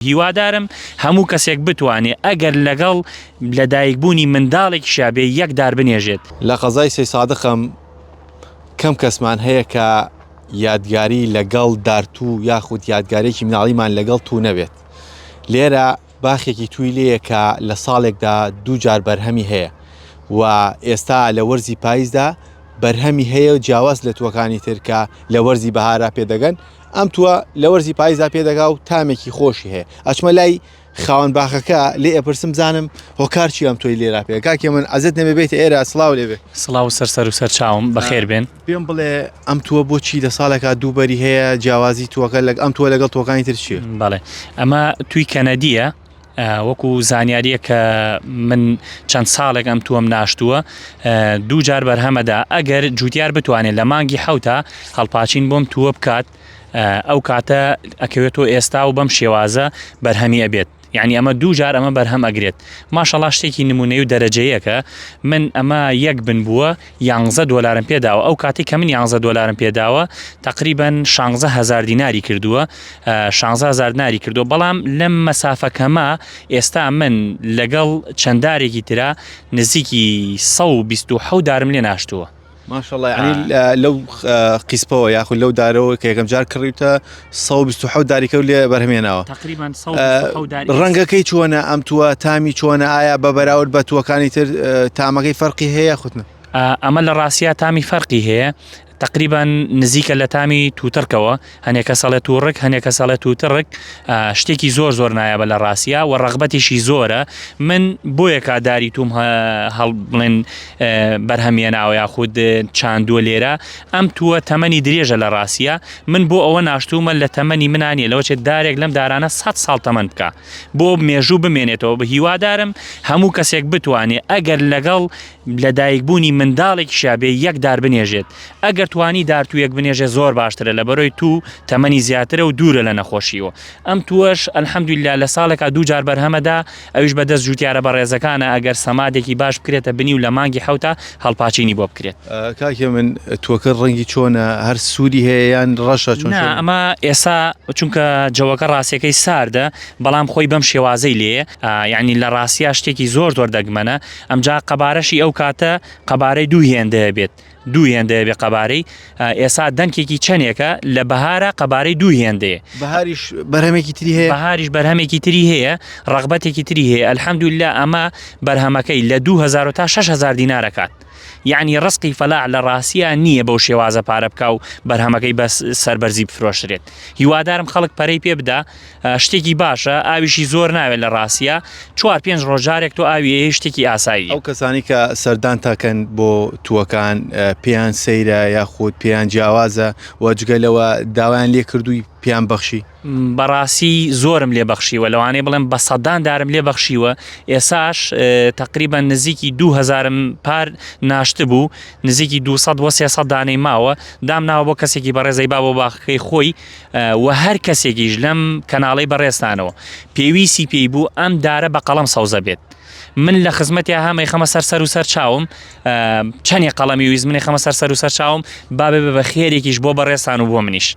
هیوادارم هەموو کەسێک بتوانێ ئەگەر لەگەڵ لە دایک بوونی منداڵێکیشا بێ یەک دار بنێژێت. لە قەزای سەیسادقم کەم کەسمان هەیە کە یادگاری لەگەڵ دار توو یاخود یادگاریەکی مناڵیمان لەگەڵ توو نەبێت. لێرە باخێکی تووی لێیە کە لە ساڵێکدا دوو جار بەرهەمی هەیە و ئێستا لە وەرزی پایزدا بەرهەمی هەیە جیاواز لە تووەکانی تر کە لە وەرزی بەهارا پێ دەگەن. ئەم تووە لە وەرزی پاییزدا پێدەگا و تامێکی خۆشی هەیە ئەچمە لای خاوەن باخەکە لێ ئەپرسم بزانم هۆکار چی ئەم تۆی لێرا پێ کاکێ من ئەزت نەبێ بێت ئێرە سڵاو لێ بێ سڵاو سەر سەر و سەر چاوم بەخێر بێن پێم بڵێ ئەم تووە بۆچی لە ساڵێکا دووبەری هەیە جیاوازی تووەکە لەگ ئەم تووە لەگەڵ تۆکانی تر چیە بەڵێ ئەمە توی کەنەدیە وەکو زانیاریە کە من چەند ساڵێک ئەم تووەم ناشتووە دوو جار بەرهەمەدا ئەگەر جوتیار بتوانێت لە مانگی حوتا هەڵپاچین بۆم تووە بکات ئەو کاتە ئەکەوێتەوە ئێستا و بەم شێوازە بەرهەمی ئەبێت یعنی ئەمە دوو جار ئەمە بەرهەم ئەگرێت ماشەڵا شتێکی نمونەی و دەرەجەیەکە من ئەمە یەک بن بووە یانزە دۆلارم پێ داوە ئەو کاتی کە من یانزە دۆلارم پێ داوە تقریبان شانزە هزار دیناری کردووە شانزە هزار ناری کردو بەڵام لەم مەسافەکەمە ئێستا من لەگەڵ چەندارێکی تررا نزیکی 1970 دارم لێ ناشتووە ماشەڵی لەو قیسپەوە یاخود لەو دارەوە کە یەکەم جار کڕیتە سە و بیست و حەوت داریکە و لێ بەرهەمێناوە تقریبان سە و بیست و حەوت داری ڕەنگەکەی چۆنە ئەم تووە تامی چۆنە ئایا بە بەراورد بە تووەکانی تر ئە، تامەکەی فەرقی هەیە خوتنە ئا، ئەمە لە ڕاستیا تامی فەرقی هەیە تقریبان نزیکە لە تامی تووتڕکەوە هەنێ کەس ئەڵێ تووڕک هەنێ کەس ئەڵێ تووتڕک ئا، شتێکی زۆر زۆر نایابە لە ڕاستیا و ڕەغبەتیشی زۆرە من بۆیە کا داری تووم هە، هەڵ بڵێن ئە، بەرهەم یێناوە یاخود چاندووە لێرە ئەم تووە تەمەنی درێژە لە ڕاستیا. من بۆ ئەوە ناشتوومە لە تەمەنی منا نیە لەوە چێت دارێک لەم دارانە سەد ساڵ تەمەن بکە بۆ مێژوو بمێنێتەوە بە هیوادارم هەموو کەسێک بتوانێت ئەگەر لەگەڵ لەدایکبوونی منداڵێک شابێ یەک دار بنێژێت ئەگەر توانی دارتوویەک بنێژێ زۆر باشترە لە بەرۆی تو تەمەنی زیاترە و دوورە لە نەخۆشیەوە ئەم تووەش الحمدللە لە ساڵێکا دوو جار بەرهەمە دا ئەویش بە دەست جووتیارە بەڕێزەکانە ئەگەر سەمادێکی باش بکرێتە بنی و لە مانگی حەوتا هەڵپاچینی بۆ بکرێت. کاکی من تووەکە ڕەنگی چۆنە هەر سووری هەیە یان ڕەشە چۆن؟ نا ئەمە ئێسا چونکە جەوەکە ڕاستیەکەی ساردە بەڵام خۆی بەم شێوازەی لێیە یانی لە ڕاستیا شتێکی زۆر زۆر دەگمەنە ئەمجا قەبارەشی ئەو کاتە قەبارەی دوو هێندەیە بێت دوو هێندەیە بێ قەبارەی ئێسا دەنکێکی چەندێکە لە بەهارە قەبارەی دوو هێندەیە بەهاریش بەرهەمێکی تری هەیە بەهاریش بەرهەمێکی تری هەیە ڕغبەتێکی تری هەیە ئەلحەمدولا ئەمە بەرهەمەکەی لە 2000 تا 6هزار دینارەکات یعنی ڕستی فەلا لە ڕاستە نییە بەو شێوازە پارە بکە و بەرهەمەکەی بەس سربەرزی بفرۆشرێت هیوادارم خەڵک پەرەی پێ بدا شتێکی باشە ئاویشی زۆر ناوێت لە ڕاستە چوار پێنج ڕۆژ جارێک تۆ ئاوی شتێکی ئاسایی ئەو کەسانی کە سەردان تاکەن بۆ تووەکان پێیان سەیرە یاخود پێیان جیاوازە و جگەلەوە داوایان لێ کردووی پیان بەخشی بەڕاستی زۆرم لێ بەخشیوە لەوانەیە بڵێم بە سەدان دارم لێ بەخشیوە ئێساش تقریبا نزیکی دوهزارم پار ناشت بوو نزیکی 200 دانەی ماوە دام ناوە بۆ کەسێکی بەڕێزەی با بۆ باخەکەی خۆی وە هەر کەسێکیش لەم کەناڵەی بەڕێزتانەوە پێویستی پێی بوو ئەم دارە بە قەڵەم سەوزە بێت من لە خزمەتی هەمەی خەمە سەر سەر و سەر چاوم چەنی قەڵەمی ویز منی خەمە سەر سەر و سەر چاوم بابێ بە خێرێکیش بۆ بەڕێستان و بۆ منیش.